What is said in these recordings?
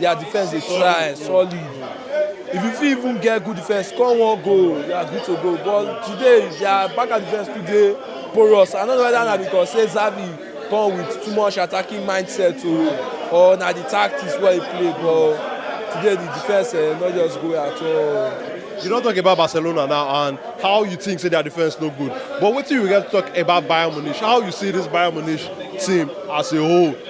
Their defense dey try solid. If you fit even get good defense, score one goal, you are good to go. But today, their back and defense too dey porous. I no know whether na because say Xavi come with too much attacking mindset o or na the tactics wey he play but today the defense eh, no just go at all. You don talk about Barcelona now and how you think say their defense no good. But wetin you get to talk about Bayern Munich? How you see this Bayern Munich team as a whole?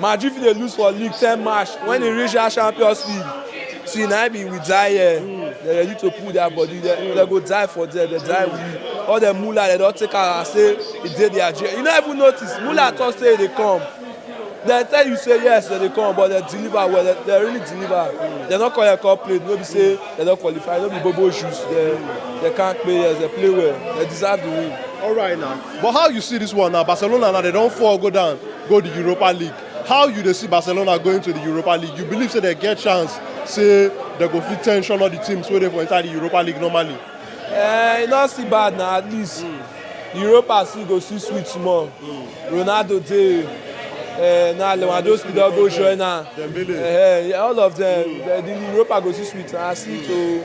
Madrid fit dey lose for league ten match when e reach that champions league see na im be we die here dem ready to put their body dem dem go die for there dem die we all dem mula dem don take am as say e dey their jail you no even notice mula talk say e dey come dem tell you say yes dem dey come but dem deliver well dem, dem really deliver dem no come here come play no be say dem don qualify no be bobo juice dem dem kampe yes dem play well dem deserve the win. Alright now, But how you see this one now, Barcelona now they don't fall go down, go the Europa League. How you they see Barcelona going to the Europa League? You believe say they get chance, say they go fit tension all the teams where they for inside the Europa League normally. Eh, e no still bad na at least mm. europa still go still sweet small mm. ronaldo dey eh, na lewandowski don go join am eh, all of them mm. the europa go still sweet na still to.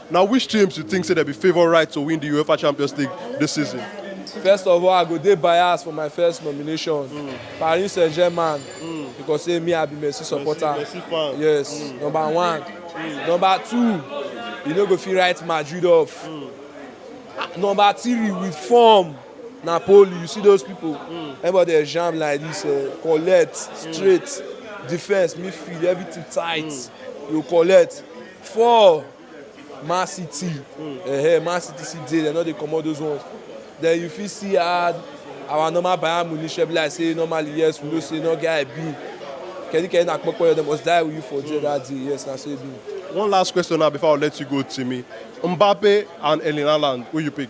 Na which teams you think say dem be favourites to win di Uefa Champions League dis season? First of all, I go dey biased for my first nomination, mm. Paris Saint-Germain, mm. because say me I be Messi supporter. Messi, Messi fan. Yes, mm. number one. Mm. Number two, you no go fit write Madrid off. Mm. Number three, with form. Napoli, you see those people, mm. everybody dey jam like this, uh, collect, straight, mm. defense, midfield, everything tight, mm. you collect. four man city um man city still dey dem no dey comot those ones then you fit see add our normal bayern munich be like say normally yes we know say no get i be kedi kedi na kpokpo dem must die with you for there that day yes na so e be. one last question now before i let you go timi mbappe and erling haaland who you pick.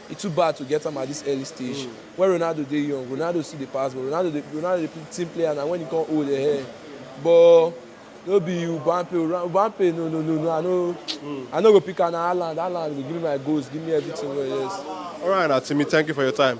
E too bad to get am at this early stage, when Ronaldo dey young, Ronaldo still dey pass ball, Ronaldo dey Ronaldo dey be team player na when e come old eheh but no be Ubampe o, Ubampe no no no no I no I no go pick am na Haaland, Haaland go give me my goals, give me everything wey yes. Alright na Timi thank you for your time.